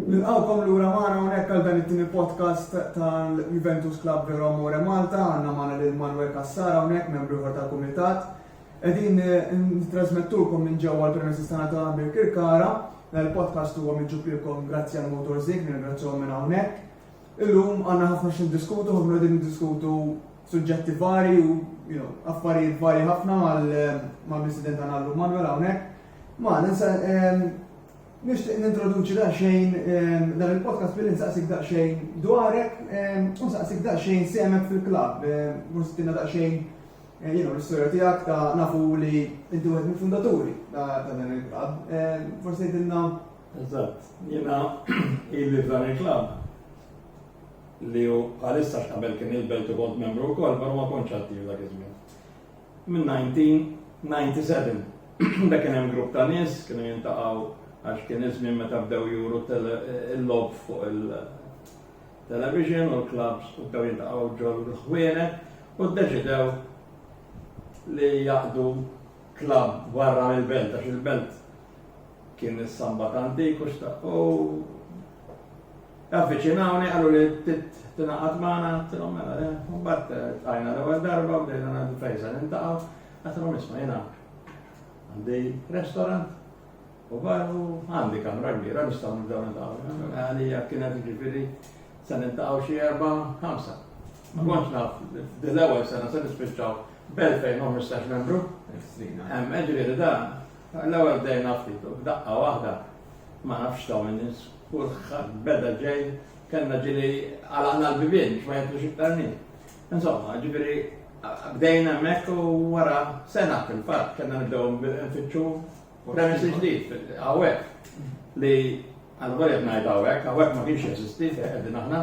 Nilqawkom lura magħna hawnhekk għal dan it-tieni podcast tal-Juventus Club Vero Amore Malta, għandna magħna lil Manuel Cassara hawnhekk membru ieħor tal-kumitat. Qegħdin nittrażmettulkom minn ġewwa l-premises tagħna ta' Birkirkara. Dan il-podcast huwa miġjub lilkom grazzi għal Motorzig, nirringrazzjahom minn hawnhekk. Illum għandna ħafna x'niddiskutu, ħafna qegħdin niddiskutu suġġetti varji u affarijiet varji ħafna mal-President tagħna llum Manuel hawnhekk. Ma ninsa nixtieq nintroduċi daqsxejn dan il-podcast billi nsaqsik daqsxejn dwarek u nsaqsik daqsxejn semek fil-klabb, mhux daqsxejn Jiena u l-istorja tiegħek ta' nafu li inti wieħed mill-fundaturi ta' dan il-klabb. Eh, forsi jidilna. Eżatt, jiena ili f'dan il-klabb li u għalissa x'qabel kien il-belt u kont membru wkoll, però ma kontx attiv dak iż-żmien. Minn 1997 da kien hemm grupp ta' nies kienu jintaqgħu għax kien iż-żmien meta bdew juru il-lob fuq il- Television u l-klabbs bdew jiltaqgħu ġol-ħwienet u ddeċidew li jaqdu klabb barra mill-belt għax il-belt kien is-Sambat Antik u xtaq u avviċinawni qalu li tingħaqad magħna tilhom mela le, mbagħad tajna l-ewwel darba bdejna ngħidu fejn se nintaqgħu, għatilhom isma' jiena għandi restaurant U qalu għandi kamra kbira nistgħu nibdew niltaqgħu. Għalija kienet ġifieri se niltaqgħu xi erba' ħamsa. Ma kontx naf, dil-ewwel sena se nispiċċaw b'25 membru. Hemm ġifieri dan, l-ewwel bdejna ftit u b'daqqa waħda ma nafx ta' minn nies, kulħadd beda ġej, kellna ġieli għalaqna l-bibien biex ma jgħidux iktar nies. Insomma, ġifieri bdejna hemmhekk u wara sena fil-fatt kellna nibdew nfittxu U kien hemm ġdid hawnhekk li għal wara ngħid hawnhekk, hawnhekk ma kienx jeżisti qegħdin aħna,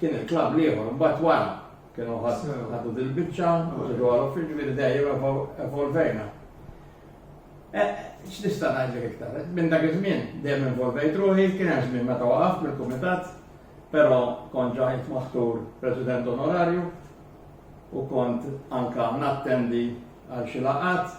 kien il-klabb li ieħor mbagħad wara kienu ħadu dil-biċċa, ġidu għal uffiċ ġifieri dejjem evolvejna. E, x'nista' ngħidlek iktar? Minn dak iż-żmien dejjem involvejt ruħi, kien hemm żmien meta waqaf mill-kumitat, però kont ġajt maħtur President Onorarju u kont anka nattendi għal xi laqat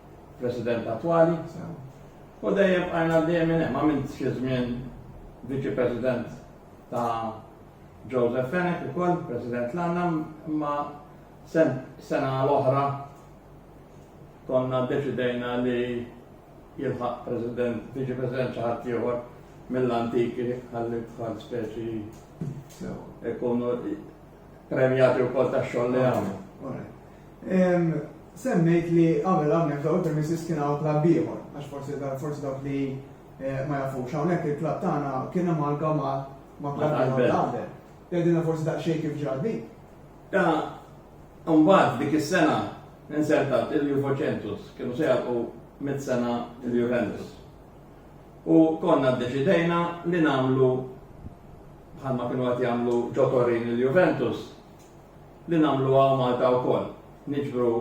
President attwali, u dejjem bqajna għaddejjem minn hemm għamilt xi żmien Viċi President ta' Joseph Fenech ukoll, President l-għanna, imma sena l-oħra konna deċidejna li jilħaq President, Viċi President xi ħadd ieħor mill-antiki għalli tħal speċi ikunu premjati u kol ta' xoll li għamlu. Semmejt li qabel hawnhekk f'dawn il-premises kien hawn klabb ieħor, għax forsi forsi dawk li ma jafux hawnhekk il-klabb tagħna kien amalgam ma' ma' klabb ieħor ta' qabel. Tgħidilna forsi daqsxejn kif ġrat din? Ta' mbagħad dik is-sena insertat il-Juvocentus, kienu se jagħlqu mitt sena il-Juventus. U konna ddeċidejna li nagħmlu bħalma kienu qed jagħmlu ġo Torin il-Juventus, li nagħmluha Malta wkoll. Niġbru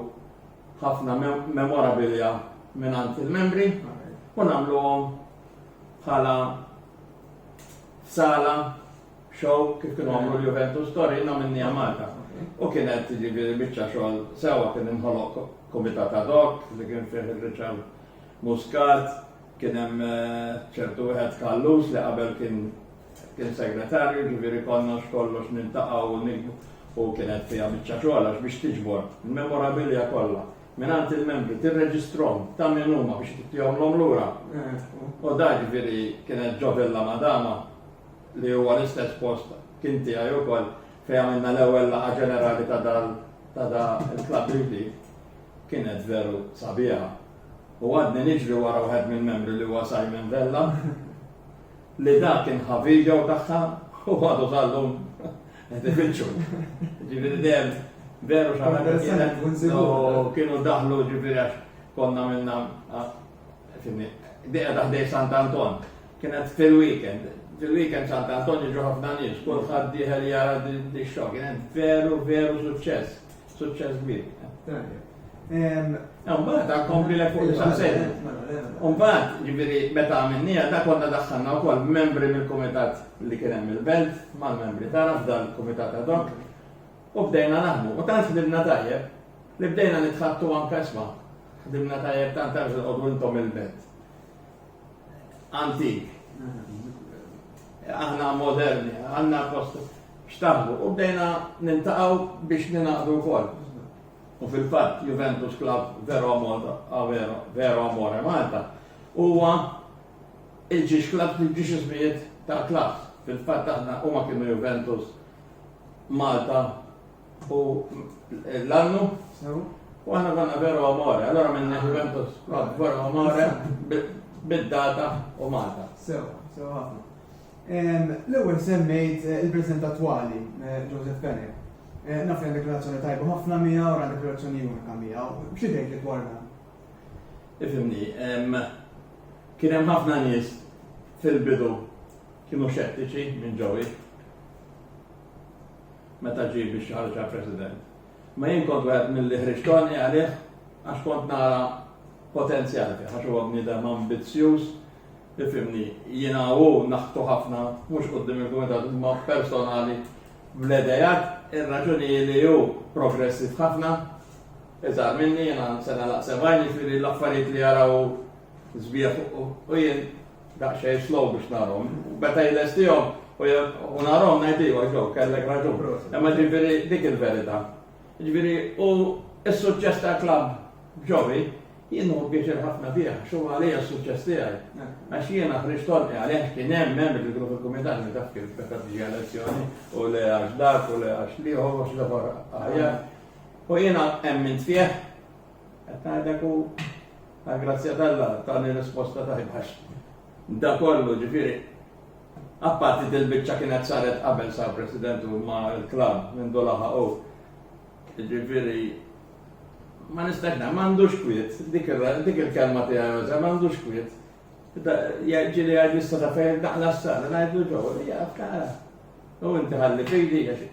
ħafna memorabilia mingħand il-membri u nagħmluhom bħala sala show kif kienu għamlu l-Juventus Torino minni Malta. U kienet ġifieri biċċa xogħol sewwa kien inħoloq komitat ad hoc li kien fih Richard Muscat, Kien hemm ċertu wieħed Kallus li qabel kien kien segretarju, ġifieri konna x'kollox niltaqgħu u nikbu u kienet fiha biċċa xogħol għax biex tiġbor il-memorabilia kollha mingħand il-membri tirreġistrom ta' min huma biex tittihomlhom lura. U da ġifieri kienet ġo Villa Madama li huwa l-istess post kien tiegħi wkoll fejn għamilna l-ewwel laqgħa ġenerali ta' dal ta' da il-klabb ġdid kienet veru sabiħa. u għadni niġri wara wħed mill-membri li huwa Simon Vella li dak kien ħa video tagħha u għadu tal-lum qed ifittxu. Ġifieri dejjem veru xaħat kienu daħlu ġifieri għax konna minna deqa taħdej Sant Anton. Kienet fil-weekend, fil-weekend Sant Anton jiġu ħafna nies, kulħadd diħel jara di xogħol, kienet veru veru suċċess. Suċċess kbir. U mbagħad għad kompli lek fuq il-ċansejna. U mbagħad, ġifieri meta għamilniha ta' konna daħħalna wkoll membri mill-kumitat li kien hemm il-belt mal-membri tagħna f'dan il-kumitat ad hoc u bdejna naħdmu. U tant fdilna tajjeb li bdejna nitħattu anke isma' ħdimna tajjeb tant għax intom il-belt. antik. Aħna moderni, għanna post xtaħbu u bdejna nintaqaw biex ninaqdu kol. U fil-fat Juventus Club Vero Amore, ah, Vero Amore Malta, huwa il-ġiex klab il-ġiex ismijiet ta' klabs. Fil-fat aħna huma kienu Juventus Malta U l-annu, u għana għanna veru amore, għallora minn Juventus, veru amore, bid-data u Malta. Sew, sew għafna. L-ewel semmejt eh, il-prezent attuali, eh, Joseph Penne. Eh, naf għandek relazzjoni tajba ħafna mija u għandek relazzjoni unika mija. Xi tgħid li dwar dan? Ifimni, kien hemm ħafna nies fil-bidu kienu xettiċi minn ġowi. meta ġie biex jħarġ għal President. Ma jien kont wieħed milli ħriġtoni għalih għax kont nara potenzjal fih, għax huwa bniedem ambizzjuż, ifimni, jiena u naħtu ħafna, mhux qudiem il-kumitat, imma personali bl-edejat, ir-raġuni li hu progressiv ħafna, iżgħar minni jiena sena laqsebajni fili l-affarijiet li jaraw żbieħ u jien Daqsxejn slow biex narhom. Meta jlestihom u narhom ngħid iva ġew kellek raġun. Imma ġifieri dik il-verità. Ġifieri u s-suċċess tal-klabb ġowi jien hu pjaċir ħafna fih, xu għalija s-suċċess tiegħi. Għax jiena ħriġ torqi għalih kien hemm membri fil-grupp il-kumitat li taf kif meta tiġi elezzjoni u le għax dak u le għax liħor u xi ħaġa aħjar. U jiena emmint fih Qed ngħidlek u għall-grazzja t'Alla tani risposta tajba għax dan kollu ġifieri apparti dil-biċċa kienet saret qabel sar President u ma' l-klabb mindu laħaqu. Ġifieri ma nistax ngħid m'għandux kwiet, dik il-kelma tiegħi Jose m'għandux kwiet. Ġieli għad nista' ta' fejn daqla s-sar, ngħidlu ġew, jaf kara. U inti ħalli fidi għax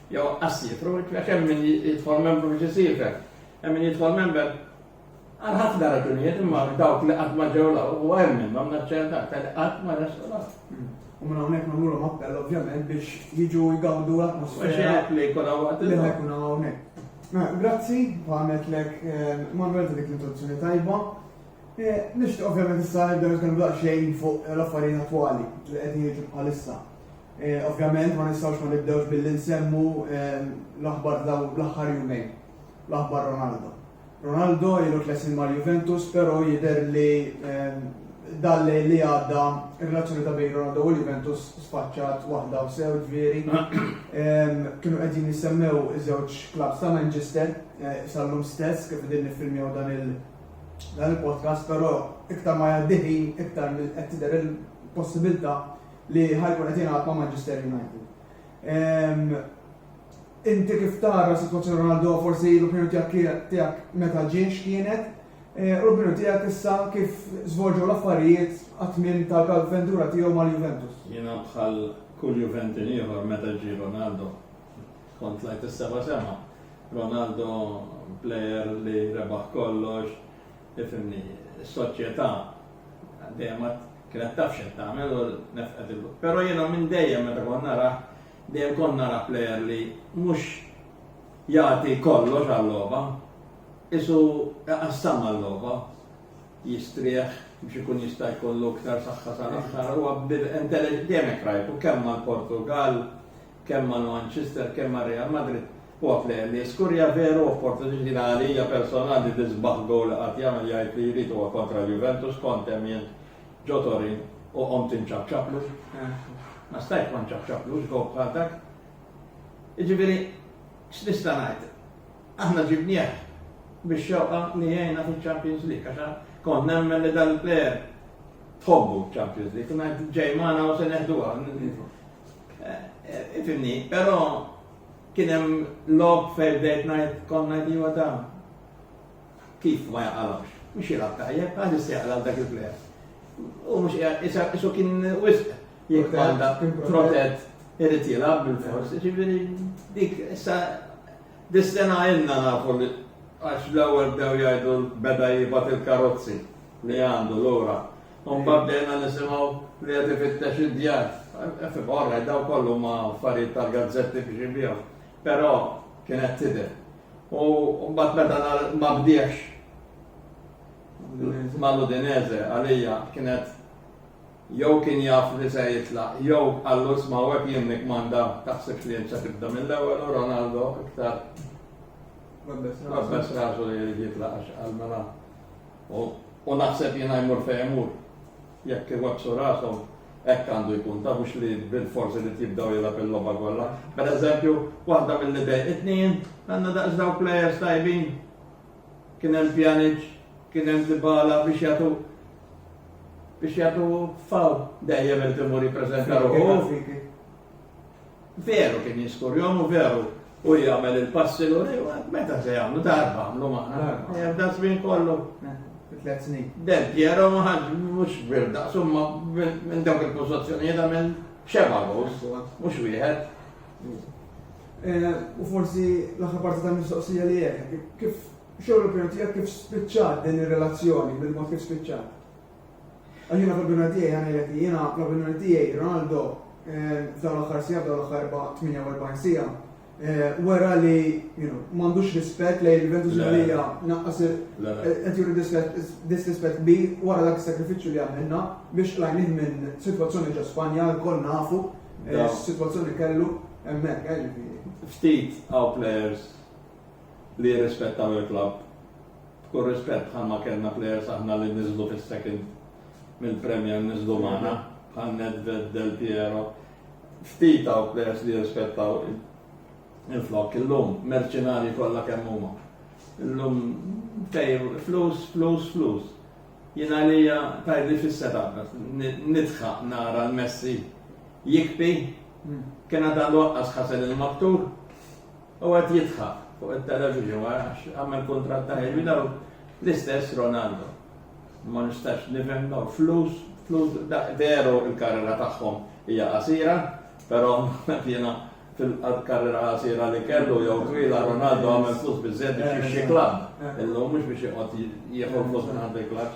Joqqas jitru, għax hemm min jidħol membru biex isifer. Hemm min jidħol member għal ħafna raġunijiet imma dawk li qatt ma ġew law u hemm minnhom naċċerta aktar li qatt ma resqu law. U minn hawnhekk nagħmluhom appell ovvjament biex jiġu jgawdu l-atmosfera li jkun hawn li jkun hawnhekk. Mela, grazzi, u għamilt lek eh, Manuel ta' dik l-introduzzjoni tajba. Eh, nixtieq ovvjament issa nibdew nitkellmu daqsxejn fuq l-affarijiet attwali li qed jiġu bħalissa. Ovvjament ma nistgħux ma nibdewx billi nsemmu l-aħbar ta' dawn l-aħħar jumejn, l-aħbar Ronaldo. Ronaldo ilu tliet snin mal-Juventus però jidher li dan l-lejl li għadda r-relazzjoni ta' bejn Ronaldo u l-Juventus sfaċċat waħda u sew ġifieri. Kienu qegħdin jissemmew iż-żewġ klabbs ta' Manchester eh, sal-lum stess kif qegħdin niffilmjaw dan il-podcast però iktar ma jgħaddi ħin iktar qed tidher il-possibilità li ħa jkun qed jilgħab ma' Manchester United. Ehm, inti kif tara situazzjoni Ronaldo forsi l-opinjoni tiegħek meta ġiex kienet, eh, u l-opinjoni tiegħek issa kif żvolġu l-affarijiet għat-tmiem tal-avventura tiegħu mal-Juventus. Jiena bħal kull Juventin ieħor meta ġie Ronaldo. Kont lajt is-seba sema. Ronaldo player li rebaħ kollox, Tifhimni, is-soċjetà dejjem ma kienet taf x'qed tagħmel u nefqet il Però jiena minn dejjem meta kont narah, dejjem kont nara plejer li mhux jagħti kollox għal-logħba, isu qassam għal-logħba, jistrieħ biex ikun jista' jkollu iktar saħħa sal-aħħar huwa b'intelliġenza dejjem hekk rajtu kemm mal-Portugal, kemm mal-Manchester, kemm mar-Real Madrid. Quote, Li skur hija veru opportunity li għalija personali l-isbaħ goal li qatt jagħmel jgħid li jrid huwa kontra l-Juventus kont hemm jien ġo Torin u qomt inċapċaplu. Ma stajt ma nċapċaplux goal bħal dak. Jiġifieri x'nista' ngħid? Aħna ġibnieh biex xewqa li jgħinna fil-Champions League għax kont nemmen li dal-player tħobbu Champions League, kuna ġejmana u se neħduha. Eh, eh, ifimni, però Kien hemm logħob fejn bdejt ngħid kont ngħid iva ta' kif ma jaqalgħux. Mhux jilgħab tajjeb, għaliex se jaqla' dak il-plejer. U mhux qiegħed isu kien wisq jekk għandha protett irid jilgħab bil-fors. Ġifieri dik issa dis-sena ilna nafu li għax l-ewwel bdew jgħidu beda jibgħat il-karozzi li għandu lura. U mbagħad bdejna nisimgħu li qed ifittex id-djar. Orra, daw kollu ma affarijiet tal-gazzetti biex jibihom. Però kienet tidher. U mbagħad meta ma bdiex mal-Udinese għalija kienet jew kien jaf li se jitlaq, jew għallu sma' hekk jien nikmanda taħsibx li se tibda mill-ewwel u Ronaldo iktar Rabbes rasu li jitlaqax għal-mela. U naħseb jiena jmur fejn imur, jekk iwebbsu rashom, hekk għandu jkun, ta' mhux li bilfors irid jibdew jilgħab il-logħba kollha. Pereżempju, waħda milli dejqitni jien, għandna daqs dawn plejers tajbin. Kien hemm Pjanic, kien hemm Dybala biex jagħtu biex jagħtu faw dejjem irid imur jippreżenta ruħu. Veru kien jiskurjhom u veru u jagħmel il-passi l u meta se jagħmlu darba għamlu maħna darba. Eh, da żmien kollu. Eh, tliet snin. Del Piero ma ħaġ mhux bir daqsu minn dawk il-pożizzjonijiet għamel xeba għos, mhux wieħed. Eh, u forsi l-aħħar parti ta' mistoqsija li jekk, kif xogħol opinjoni tiegħek kif spiċċat din ir-relazzjoni, bil-mod kif spiċċat? Għax jiena fl-opinjoni tiegħi għanilek li jiena fl-opinjoni tiegħi Ronaldo f'dawn l-aħħar siegħa f'dawn l-aħħar 48 siegħa wera li m'għandux rispett lejn il-Juventus Malija naqqas qed juri disrispett kbir wara dak is-sakrifiċċju li għamilna biex lajnih minn sitwazzjoni ġo Spanja lkoll nafu s-sitwazzjoni kellu hemmhekk ġifieri. Ftit hawn players li jirrispettaw il-klabb B'kull rispett bħalma kellna players aħna li niżlu fis-second mill-Premier niżlu magħna bħal Nedved, Del Piero. Ftit hawn players li jirrispettaw il-flok illum, merċinari kollha kemm huma. Illum fejr flus, flus, flus. Jina li tajli fis-seta, nitħaq nara l-Messi jikpi, hmm. kena dan waqqas ħasel il-maktur, U qed jidħaq fuq it-television għax għamel kuntratt ta' ħin daw l-istess Ronaldo. Ma nistax nifhem daw flus, flus veru il-karriera tagħhom hija qasira, però jiena fil-karriera qasira li kellu jew twila Ronaldo għamel flus biżżejjed biex jixxi klabb. Illum mhux biex joqgħod jieħu flus minn għand il-klabb.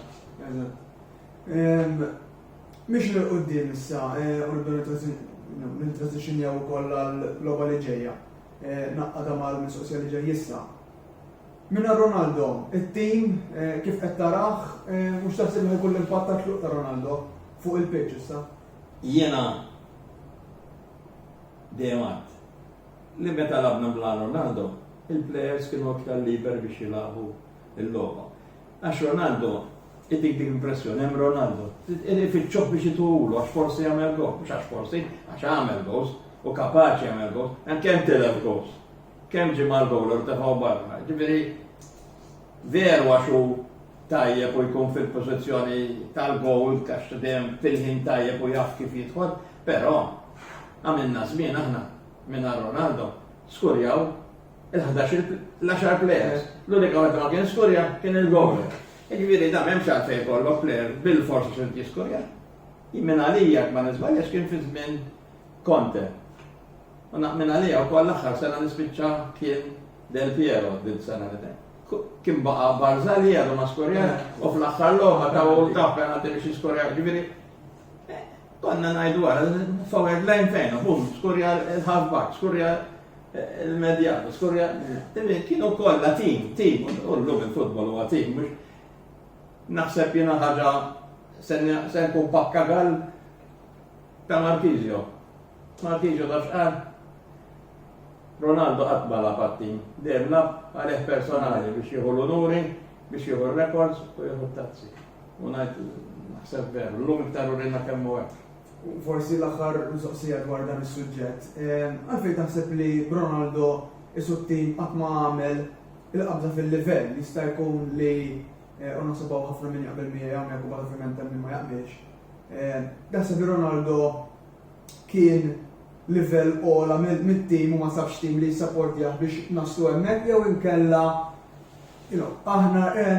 Miexin 'il quddiem issa u nibdew nintransizzjonjaw ukoll għall-logħba li ġejja, nagħqadha mal-mistoqsija li ġej issa. Mingħajr Ronaldo, it-tim kif qed tarah u x'taħseb li ħa jkun l-impatt tat-tluq ta' Ronaldo fuq il-pitch issa? Jiena dejjem għidt li meta lagħbna mingħajr Ronaldo, il-plejers kienu aktar liberi biex jilagħbu l-logħba. Għax Ronaldo, itik dik l-impressjoni, hemm Ronaldo, ifittxuh biex ituwulu għax forsi jagħmel gowl, mhux għax forsi, għax għamel gowls, u kapaċi jagħmel gowls, hemm kemm tilef gowls, kemm ġie mal-gowl u tefgħu barra. Ġifieri veru għax hu tajjeb u jkun fil-pożizzjoni tal-gowl għax dejjem fil-ħin tajjeb u jaf kif jidħol, però għamilna żmien aħna minn Ronaldo skurjaw l-10 players, l-unika wieħed ma kien skurja kien il-goaler. Ġifieri da m'hemmx għalfejn jkollok player bil-forsi xi jiskurja. Jimmen għalija ma niżbaljax kien fi żmien Conte. U naqmin għalija wkoll l-aħħar sena nispiċċa kien Del Piero din sena li Kien baqa' Barzali għadu ma skurja u fl-aħħar logħba ta' u ta' penalti biex jiskurja ġifieri konna najdu għara, forward line fejn, bum, skurja l-halfback, skurja Il-Medjano, skurja, kienu kollha tim, tim, u llum il-futbol huwa tim, mhux naħseb jiena ħaġa se nkun pakka għal ta' Markizio. Markizio ta' xqar. Ronaldo qatt ma laf għat-tim, dejjem laf għalih personali biex jieħu l-unuri, biex jieħu r-rekords u jieħu t-tazzi. U ngħid naħseb veru, llum iktar urina kemm u hekk. U forsi l-aħħar mistoqsija dwar dan is-suġġett. Għalfejn taħseb li b'Ronaldo isu t-tim qatt ma għamel il-qabża fil-livell jista' jkun li eh, u naħseb hawn ħafna min jaqbel miegħi hawnhekk u bħal ovvjament hemm ma jaqbilx. Eh, taħseb li Ronaldo kien livell ola mit-tim u ma sabx tim li jissappordjah biex naslu hemmhekk jew inkella aħna eh,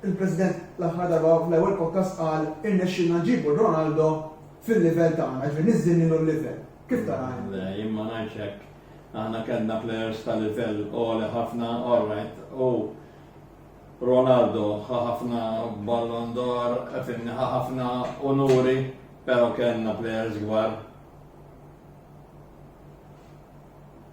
Il-President l-aħħar darba fl-ewwel podcast qal irnexxielna nġibu Ronaldo fil-livell tagħna, ġifieri niżżinnilu l-livell. Kif tara? Le, jien ma ngħidx hekk. Aħna kellna players ta' livell għoli ħafna, all right, u Ronaldo ħafna Ballon d'Or, finni ħafna onuri, pero kellna players gwar.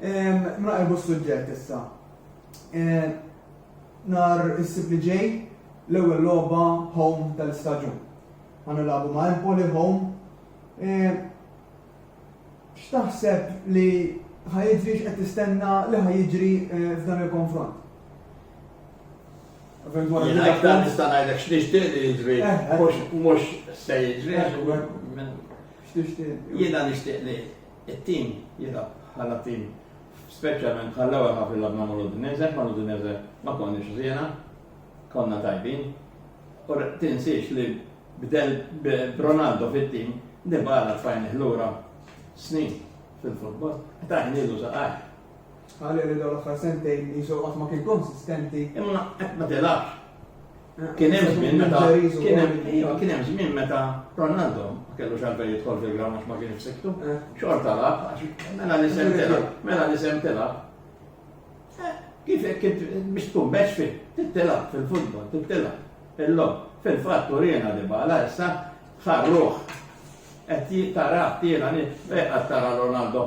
Naqilbu s-suġġett issa. Nar is-sib li ġej l-ewwel logħba home tal-istaġun. Ħa nilagħbu ma' Empoli home. X'taħseb li ħajġri x'qed tistenna li ħajġri f'dan il-konfront? Jien aktar nista' ngħidlek x'nixtieq li jiġri, eh, eh. mhux se jiġri. Eh, x'tixtieq? Jiena nixtieq li It-tim jilgħab bħala tim speċjalment bħall-ewwel ħaf ilgħab ma' mal-Udinese, mal-Udinese ma konniex ħżiena, konna tajbin. U tinsiex li b'Ronaldo fit-tim, Dybala tfajnih lura snin fil-futbol, tajnielu saqajh. Qalu li dawn l-aħħar sentejn qisu qatt ma kien konsistenti. Imma qatt ma tilgħabx. Kien hemm żmien meta kien hemm iva, kien hemm żmien meta Ronaldo ma kellux għalfejn jidħol fil-grawn għax ma kienx siktu. Eh. Xorta lab, mela li sem tilab, mela li sem tilab. Eh, kif kif biex tkun bex fil tittilab fil-futbol, tittilab. Illum, fil-fatt urina li bala issa ħarruħ. Qed tara tiela nit, eh, qed tara Ronaldo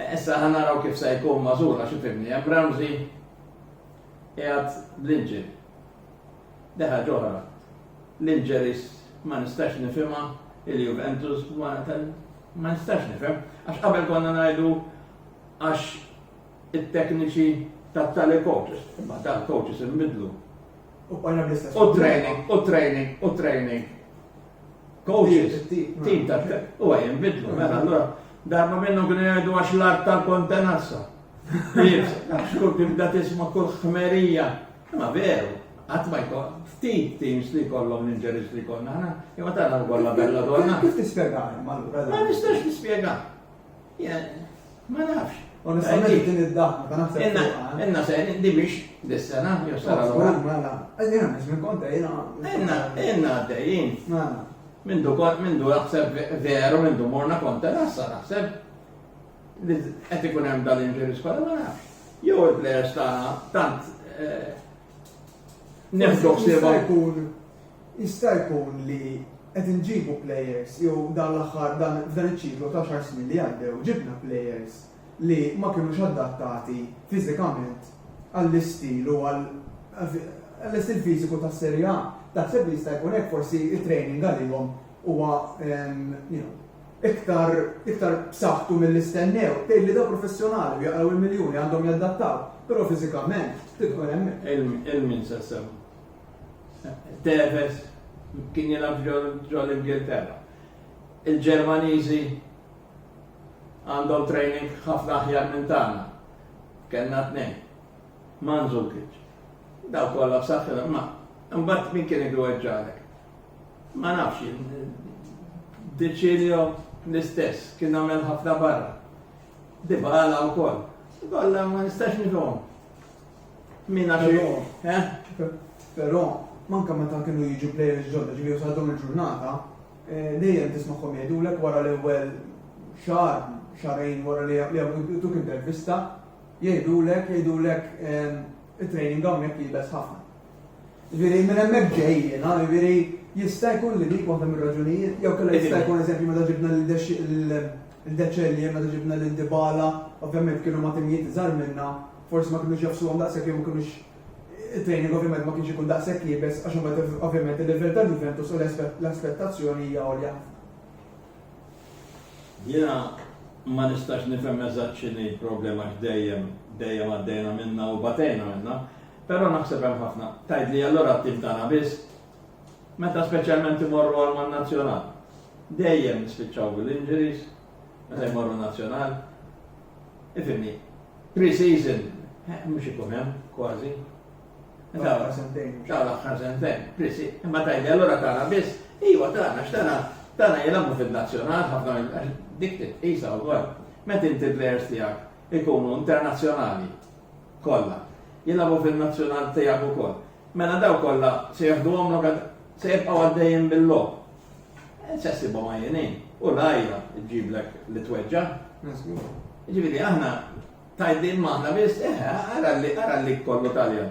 Issa ħa naraw kif se jkun magħżul għax ifhimni hemm Ramsey qiegħed bl-inġil. Deħa ġoħra. L-inġeris ma nistax nifhimha il-Juventus ma nistax nifhem għax qabel konna ngħidu għax it-tekniċi ta' tali coaches, imma tal coaches imbidlu. U training, u training, u training. Coaches, tim ta' u għajem bidlu, mela, allora, darba minnu kien jgħidu għax l-art tal-kontenassa. Xkur kif da tisma kull ħmerija. Ma veru, għat ma jkun, ftit teams li kollom l-inġeris li konna ħana, imma tara kolla bella donna. Kif tispjega għajma? Ma nistax tispjega. Ma nafx. Onestament din id-daħma ta' naħseb. Inna, inna se di biex dis-sena, jew sena l-għura. Mela, għedina biex minn konta jina. Inna, inna għaddejjin. Mela. Mindu kont, mindu naħseb veru, mindu morna konta nassa naħseb. Għed ikun hemm dal-inġeri skola ma nafx. Jew il-plejers ta' tant eh, Nefdox li ma jkun jista' jkun li qed inġibu plejers jew dan l-aħħar dan f'dan iċ-ċiklu ta' xahar snin li għaddew ġibna plejers li ma kinux adattati fiżikament għall-istil u għal għall-istil fiżiku tas-Serie A. Taħseb li jista' jkun hekk forsi t-training għalihom huwa you know iktar iktar b'saħħtu milli stennew, tgħid li dawk professjonali u jaqraw il-miljuni għandhom jadattaw, però fiżikament tidħol hemmhekk. Il min se semma. Tevez kien jilgħab ġol l-Ingilterra. Il-Ġermaniżi għandhom training ħafna aħjar minn tagħna. Kellna tnejn. Manżukic. Daw kollha b'saħħithom ma' imbagħad min kien igweġġalek. Ma nafx jien. Deċilio l-istess, kien għamel ħafna barra. Dibala u koll. Kolla ma nistax nifhom. Min għax eh? Però, manka meta kienu jiġu players ġodda ġifieri sadhom il-ġurnata, eh, dejjem tismagħhom jgħidulek wara l-ewwel xahar, xarejn wara li jagħmlu intervista, jgħidulek, jgħidulek eh, it-training hawnhekk jibes ħafna. Jiġifieri minn hemmhekk ġej jiena, jiġifieri jista' jkun li dik waħda mir-raġunijiet jew kellha jista' jkun eżempju meta ġibna lil De Celier, meta ġibna lil Dybala, ovvjament kienu ma' timijiet iżgħar minna, forsi ma kinux jafsuhom daqshekk jew ma kinux it-training ovvjament ma kienx ikun daqshekk iebes għax imbagħad ovvjament il-livell ta' Juventus u l-aspettazzjoni hija għolja ħafna. Jiena ma nistax nifhem eżatt x'inhi l-problema għax dejjem dejjem għaddejna minnha u batejna minnha, Però naħseb hemm ħafna. Tgħidli allura ttivtana biss? Meta speċjalment imorru għal man-Nazzjonal. Dejjem nispiċċaw bil-injuries meta jmorru Nazzjonal. Ifimni, pre-season eh, mhux ikun hemm kważi. Tara sentejn. Tara aħħar sentejn. Prisi, imma tajli allura tara biss, iwa tara, x'tara, tara jilamu fil-nazzjonal, ħafna dik titqisa wkoll. Meta inti players tiegħek ikunu internazzjonali, kollha jilagħbu fin-nazzjonal tiegħek ukoll. Mela dawk kollha se jaħduhom lok għad se jibqgħu għaddejjin bil-logħob. Eh, se ssibhom għajjinin u l-għajja ġġiblek li tweġġa'. Ġifieri aħna tajdin maħna biss, eh, ara li ara li kollu Taljan.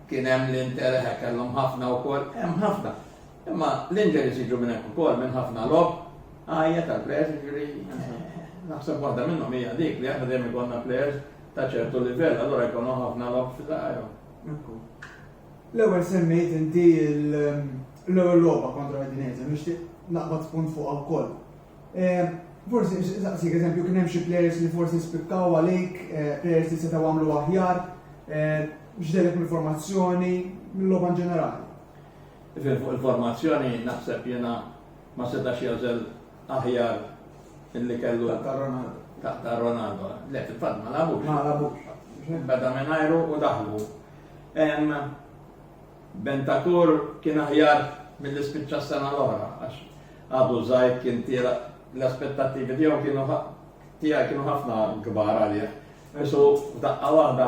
Kien hemm l-interħe kellhom ħafna wkoll, hemm ħafna. Imma l-injuries jiġu minn hekk ukoll, minn ħafna logħob għajja tal-players, jiġifieri naħseb waħda minnhom hija dik li aħna dejjem ikollna players ta' ċertu livell, allura jkollhom ħafna logħob fi żgħajrhom. L-ewwel semmejt inti l-ewwel logħba kontra Udinese, nixtieq naqbad spunt fuqha wkoll. Eh, forsi saqsik eżempju kien hemm xi players li forsi spikkaw għalik, eh, players li setgħu għamlu aħjar, eh, x'delek mill-formazzjoni, mill-logħba ġenerali. Ifen fuq il-formazzjoni naħseb jiena ma setax jagħżel aħjar illi kellu. Taqta' Ronaldo. Taqta' Ronaldo. Le fil-fatt ma lagħbux. Ma lagħbux. Beda mingħajru u daħlu. Bentakur kien aħjar milli spiċċa s-sena l-oħra għax għadu żgħir kien tira l-aspettattivi tiegħu kienu tiegħi kienu ħafna kbar għalih. Isu f'daqqa waħda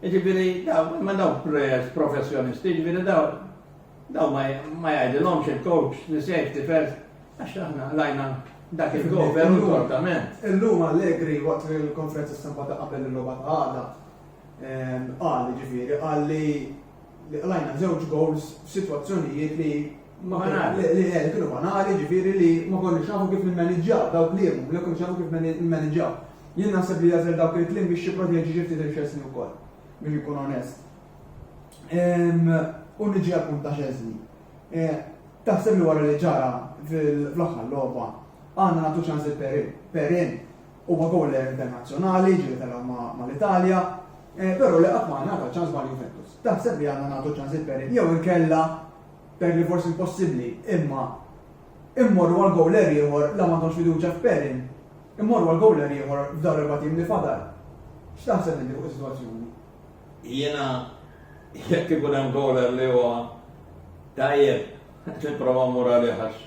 Jiġifieri dawn imma dawn players professjonisti, jiġifieri dawn dawn ma jgħidilhomx il-coach li safety first għax aħna lajna dak il-cover u l-portament. Illum Allegri waqt il-konferenza stampa ta' qabel il-logħba ta' għada qal jiġifieri qal li li qlajna żewġ gowls f'sitwazzjonijiet li ma kienu banali, ġifieri li ma konniex nafu kif nimmaniġġaw dawk li hemm, ma konniex nafu kif nimmaniġġaw. Jien naħseb li għażel dawk il-kliem biex jipproteġi xi ftit il-Xesni wkoll, biex ikun onest. Ehm, u niġi għal punt ta' Xesni. Eh, taħseb li wara li ġara fl-aħħar logħba għandna nagħtu ċans il-Perin. Perin Huwa bowler internazzjonali, ġieli telgħu mal-Italja, però li qatt ma ngħata ċans ma' Juventus. Taħseb li għandna nagħtu ċans lil Perin jew inkella per li forsi impossibbli, imma immorru għal bowler ieħor la m'għandhomx fiduċja f'Perin, immorru għal bowler ieħor f'dawn l-erba' tim li fadal. X'taħseb inti fuq is-sitwazzjoni? Jiena jekk ikun hemm bowler li huwa tajjeb, nipprova mmur għalih għax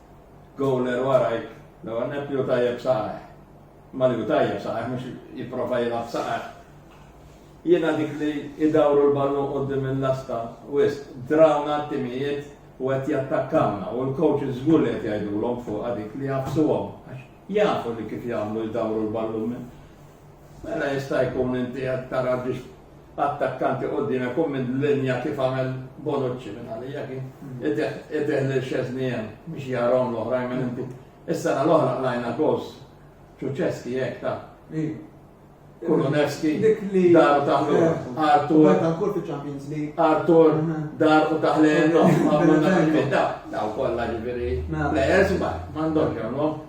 Goaler warajk, l-ewwel nett li hu tajjeb saħaħ. Imma li hu tajjeb saħaħ mhux jipprova jilgħab saħaħ. Jiena dik li idawru l-ballun quddiem il-lasta wisq, drawna t-timijiet u qed jattakkawna u l-coaches żgur li qed jgħidulhom fuqha dik li jafsuhom. Jafu li kif jagħmlu jdawru l-ballun minn. Mela jista' jkun inti qed tara biex attakkanti quddiem ikun minn linja kif għamel Bonucci minn għalija kien itih lil Szczesny hemm biex jarahom l-oħrajn minn inti. Is-sena l-oħra qlajna gols Ċuċeski hekk ta' Kulunevski dar u taħlel Artur ankor fiċ-Champions League. Artur mhm. dar u taħlel għamlu nagħmlu ta' daw kollha ġifieri. Mela. Players ma m'għandhomx jagħmlu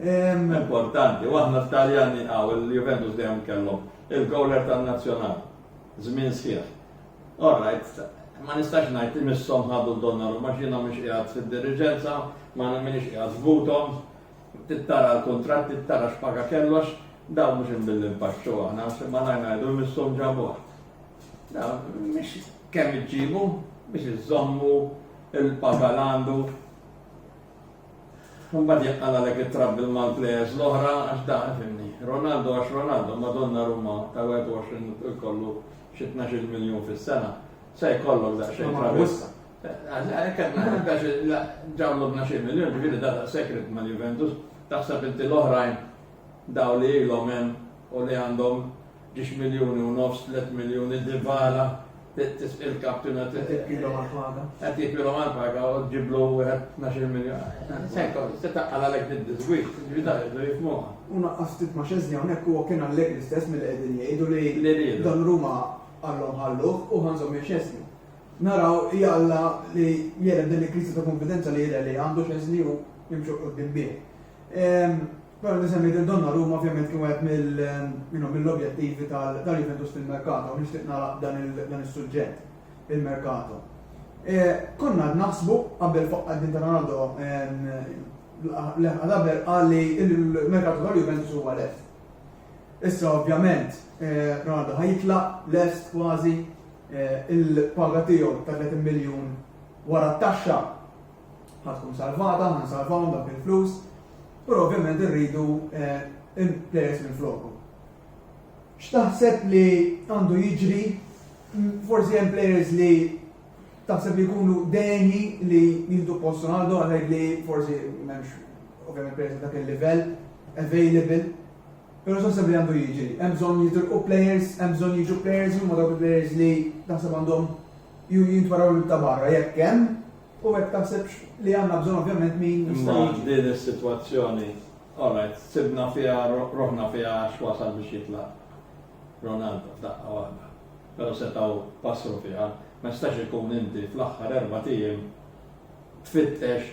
Importanti, u aħna t-Taljani hawn il-Juventus dejjem kellhom il-gowler tan-Nazzjonali. Żmien sħiħ. All right, ma nistax ngħid li misshom ħadu d-Donnarumma għax jiena mhux qiegħed fid-diriġenza, ma minix qiegħed f'buthom, tittara l-kuntratt, tittara x'paga kellox, dawn mhux imbilli npaxxu aħna, ma ngħid ngħidu misshom ġabuh. Mhix kemm iġġibu biex iżommu il-paga l-għandu Imbagħad jaqqa' għalhekk it-trapp bil-Mal players l-oħra għax da fimni. Ronaldo għax Ronaldo ma Donnarumma tal-21 jkollu xi tnax-il miljun fis-sena. Se jkollok daqsxejn travis. Hekk qed naħseb għax ġablu tnax-il miljun ġifieri da daqshekk ridt mal-Juventus. Taħseb inti l-oħrajn dawn li ilhom hemm u li għandhom Ġiex miljuni u nofs, tliet miljuni, Dybala, tisqi l-kaptuna. Qed jipilhom għall-paga. Qed jipilhom għall-paga u ġiblu wieħed 12 miljun. Sejko, se taqqal għalhekk bid-disgwix, ġvidar jibdu jifmuha. U naqqas ftit ma' xeżni hawnhekk huwa kien Allegri stess milli qegħdin jgħidu li dan Ruma għallhom ħalluh u ħanżhom minn xeżni. Naraw jalla li jera din il-kriżi ta' konfidenza li jidher li għandu xeżni u jimxu qudiem bih. Barra li semmejt lil Donnarumma ovvjament kien wieħed mill-objettivi tal-Juventus fil-merkato u nixtieq nagħlaq b'dan is-suġġett, il-merkato. Konna qed naħsbu qabel fuq qaddim ta' Ronaldo li Haller qal li l-merkato tal-Juventus huwa lest. Issa ovvjament Ronaldo ħa jitlaq lest kważi il-paga tiegħu ta' 30 miljun wara t-taxxa ħa tkun salvata, ħa nsalvahom dawk il-flus. Però ovvjament irridu players minn floku. X'taħseb li għandu jiġri forsi hemm players li taħseb li jkunu deni li jieħdu post Ronaldo għalhekk li forsi m'hemmx ovvjament players dak il-livell available. Però x'taħseb li għandu jiġri? Hemm bżonn jitilqu players, hemm bżonn jiġu players huma dawk il-players li taħseb għandhom jintwaraw ta' barra jekk hemm U hekk taħsibx li għandna bżonn ovvjament min jista' jiġi. Imma din is-sitwazzjoni, all right, sibna fiha ruħna fiha għax wasal biex jitlaq Ronaldo f'daqqa waħda. Però setgħu passru fiha, ma jistax ikun inti fl-aħħar erbat ijiem tfittex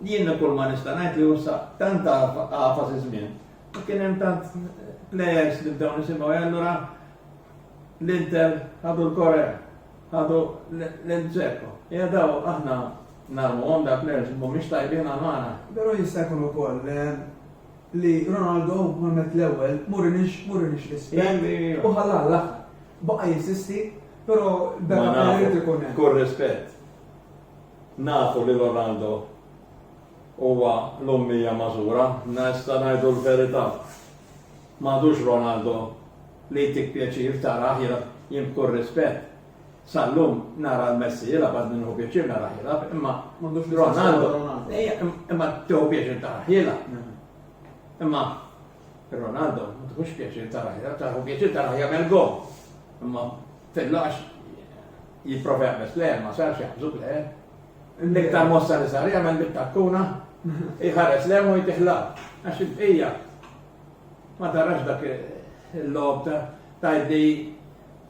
Jien kull ma nista' ngħid li usa' tant għafas iż-żmien u kien hemm tant plejers li bdew nisimgħu e allura l-Inter ħadu l-Correa, ħadu lil Dzeko. Hija daw aħna narmuhom da plejers li mhumiex tajbin għal magħna. Però jista' jkun ukoll li Ronaldo ma mett l-ewwel murinix murinix rispett u ħalla għall-aħħar. Baqa' jinsisti, però beda irid ikun hemm. Kull rispett. Nafu li Rolando huwa l-ummija magħżura. Nista' ngħidu l-verità. M'għadux Ronaldo li jtik pjaċir tarah jilgħab. Jien b'kull rispett, sal-lum nara l-Messi jilgħab għadni nieħu pjaċir narah jilgħab imma Ronaldo, imma tieħu pjaċir tarah jilgħab. Imma Ronaldo ma tieħux pjaċir tarah jilgħab, tieħu pjaċir tarah jagħmel gowl. Imma Titlaqx jipprova jaqbeż plejer ma sarx jaqbżu plejer. L-iktar mossa li sar jagħmel bit takkuna jħares lem u jtiħlaq. Għax il-bqija ma tarax dak il-lob ta' tajdi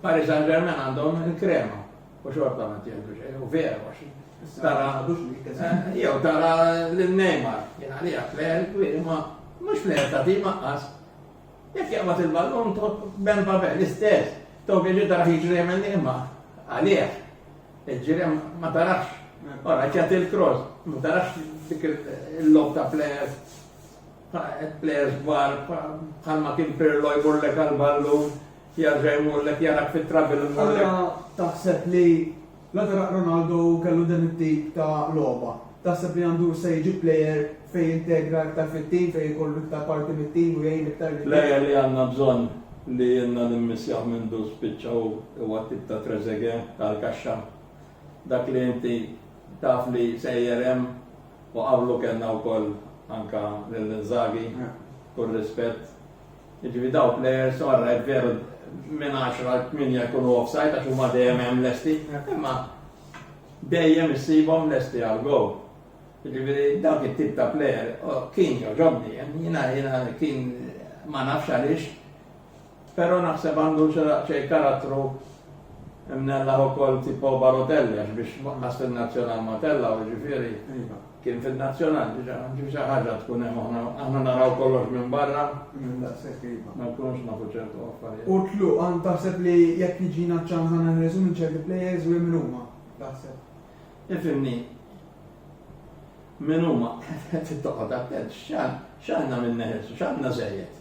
Paris Saint-Germain għandhom il-krema u xorta ma tjeldu xejn u vera għax. Tara, eh, jew tara l-Neymar, jena li għafler, ma mux fler ta' tima għas, Jekk jaqbad il-ballun to Ben Babel l-istess, to bieġi tara jiġri jemmen imma għalih. Il-ġirem ma tarax, ora ċat il-cross, ma tarax dik il-lob ta' players, players bar, bħalma kien Pirlo jbullek għal-ballun, jarġa jmullek jarak fit-trabil. Allora taħseb li La daraq Ronaldo kellu dan it-tip ta' logħba. Taħseb li Ndur se jġib plejer fejn jintegra iktar fit-tim, fejn ikollu iktar parti mit-tim u jgħin iktar lil. Plejer li għandna bżonn li ilna nimmissjaw mindu spiċċa hu huwa t-tip ta' Trezeguet tal-kaxxa. Dak li inti taf li sejjer hemm u qablu kellna wkoll anke lil Inzaghi, kull rispett. Jiġifieri dawn plejers orajt veru minn għaxra għal tmienja jkunu offside għax huma dejjem hemm lesti, imma dejjem issibhom lesti għal gowl. Jiġifieri dawk it-tip ta' plejer kien jogħġobni, jiena jiena kien ma nafx għaliex, però naħseb għandu xejn karattru mnella ukoll tipo Barotelli għax biex ħass il-nazzjonal ma tella u ġifieri. Iva. Kien fil-Nazzjonal diġà, ġifi xi ħaġa tkun hemm aħna aħna naraw kollox minn barra. Minn daqshekk iva. Ma nkunux nafu ċertu affarijiet. U tluq għand taħseb li jekk jiġina ċ-ċans għandna nħelsu minn ċerti plejers u hemm min huma taħseb? Ifhimni, min huma qed toqgħod attent x'għandna min neħelsu, x'għandna żejjed.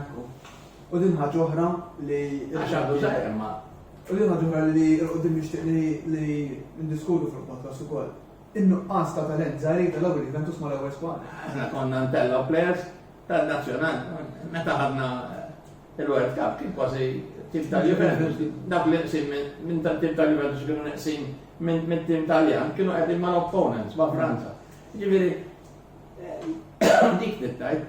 Ekku. U din ħaġa oħra li. Għax għandu żgħir imma. U din ħaġa oħra li l-qudiem nixtieq li ndiskutu fil-podcast ukoll. In-nuqqas ta' talent żgħir tal-ewwel il-Juventus ma' l-ewwel squad. Aħna konna ntellgħu players tal-nazzjonal. Meta ħadna il-World Cup kien kważi tim tal-Juventus, dak li qsim minn tal-tim tal-Juventus kienu neqsim minn tim Taljan, kienu qegħdin mal-opponents ma' Franza. Ġifieri, eh, dik tittajt.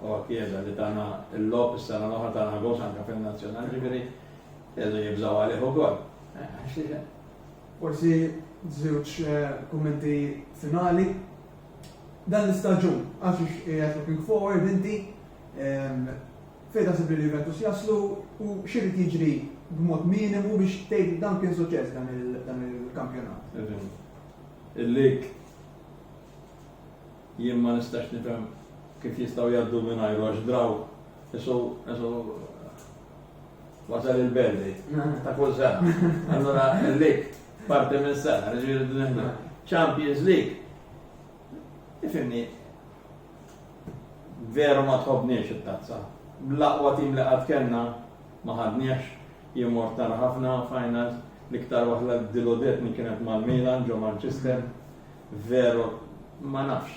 Huwa kkieda li tana l-logħob is-sena l-oħra tana goals anke fin-Nazzjonali, ġifieri qegħdu jibżgħu għalih ukoll. Forsi żewġ kummenti finali. Dan l-istaġun, għax ix qiegħed looking forward inti, fejn taħseb li l-Juventus jaslu u x'irid jiġri b'mod minimu biex tgħid dan kien suċċess dan il-kampjonat? Il-lig Jien ma nistax nifhem kif jistgħu jgħaddu mingħajru għax draw isu isu wasal il-belli ta' kull sena. Allura l-lik parti minn sena, ġifieri nifhmu. Champions League. Ifimni veru ma tħobniex it-tazza. L-aqwa tim li qatt kellna ma ħadniex jien mort nara ħafna finals l-iktar waħda diludetni kienet mal-Milan ġo Manchester Veru, ma nafx,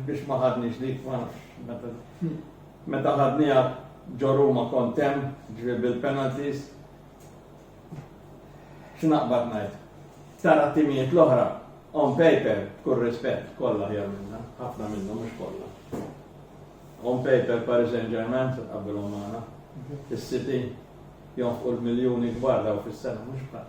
biex ma ħadniex dik, ma nafx. Meta ħadniha ġo Ruma kont hemm, ġifieri bil-penalties. X'naqbad ngħid? Tara timijiet l-oħra, on paper, kull rispett, kollha ħjar minna, ħafna minnu mhux kollha. On paper Paris Saint-Germain se tqabbilhom magħna, is-City jonfqu l-miljuni kbar daw fis-sena mhux bħal.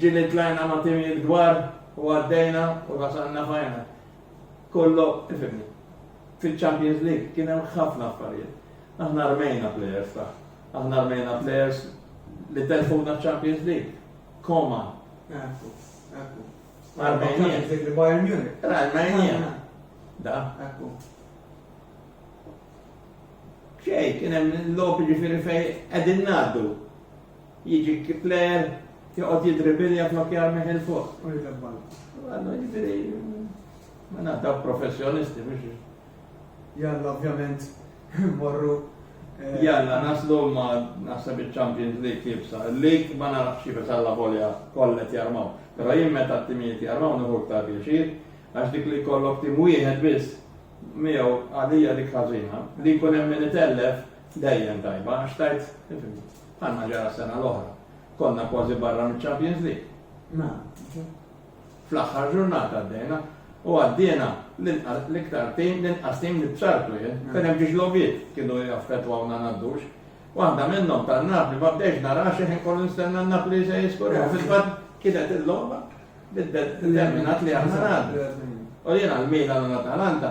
Ġieli tlajna ma' timijiet kbar u għaddejna u wasalna final. Kollo, ifhimni, fiċ-Champions League kien hemm ħafna affarijiet. Aħna rmejna plejers ta'. Aħna rmejna plejers li telfuna ċ-Champions League. Koma. Ekku, ekku. Armenien. Dik li Bayern Munich. Ra, Armenien. Da. Ekku. Xej, kien hemm lopi ġifieri fejn qegħdin ngħaddu. Jiġi Kipler, joqgħod jiddribilja flok jarmih 'il fuq. U jitlef ball. Għallu jiġri, ma naddaw professjonisti biex. Jalla, ovvjament, morru. Eh, Jalla, naslu ma nasab il-Champions League jibsa. League ma narax xifet għalla volja kollet jarmaw. Pero jien meta t-timijiet jarmaw nħu ktar pjaċir, għax dik li kollok tim wieħed biss miegħu għalija dik ħażina. Li jkun hemm min itellef Dejjem tajba għax tgħid, ifhimni, bħalma ġara s-sena l-oħra. Konna kważi barra miċ-Champions League. Nagħrfu. Fl-aħħar ġurnata għaddejna u għaddiena l-iktar tim, l-inqas tim li b'sartu jien, kien hemm ġiex lobiet kienu jaffettwawna ngħaddux. Waħda minnhom tan-Napli ma bdejx nara xi ħin kollu nistenna n-Napli se jiskorja. Fil-fatt kienet il-logħba biddet determinat li aħna ngħaddu. U jiena l-Milan u l-Atalanta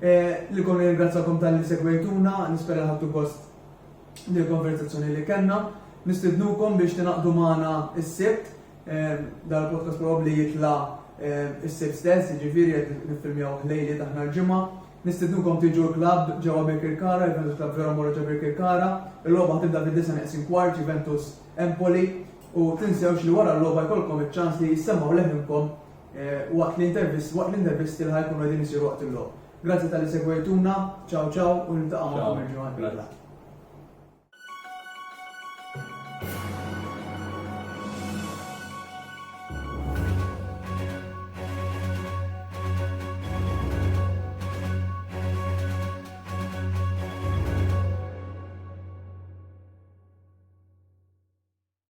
Lilkom nirringrazzjakom talli segwejtuna, nispera li ħadtu gost bil-konverzazzjoni li kellna. Nistidnukom biex tingħaqdu magħna s-Sibt, dan il-podcast probabbli jitla' s-Sibt stess, jiġifieri qed niffilmjawh lejliet aħna l-Ġimgħa. Nistidnukom tiġu l-klabb ġewwa Birkirkara, il-Juventus Club Vera Mauro ġo Birkirkara. Il-logħba ħatibda fid-disgħa neqsin kwart, Juventus Empoli, u tinsewx li wara l-logħba jkollkom iċ-ċans li jissemgħu leħinkom Waqt l-intervisti li ħa jkunu qegħdin isiru waqt il-logħob. Grazzi talli segwejtuna, ciao ciao u niltaqa' magħkom il-ġimgħa d-dieħla.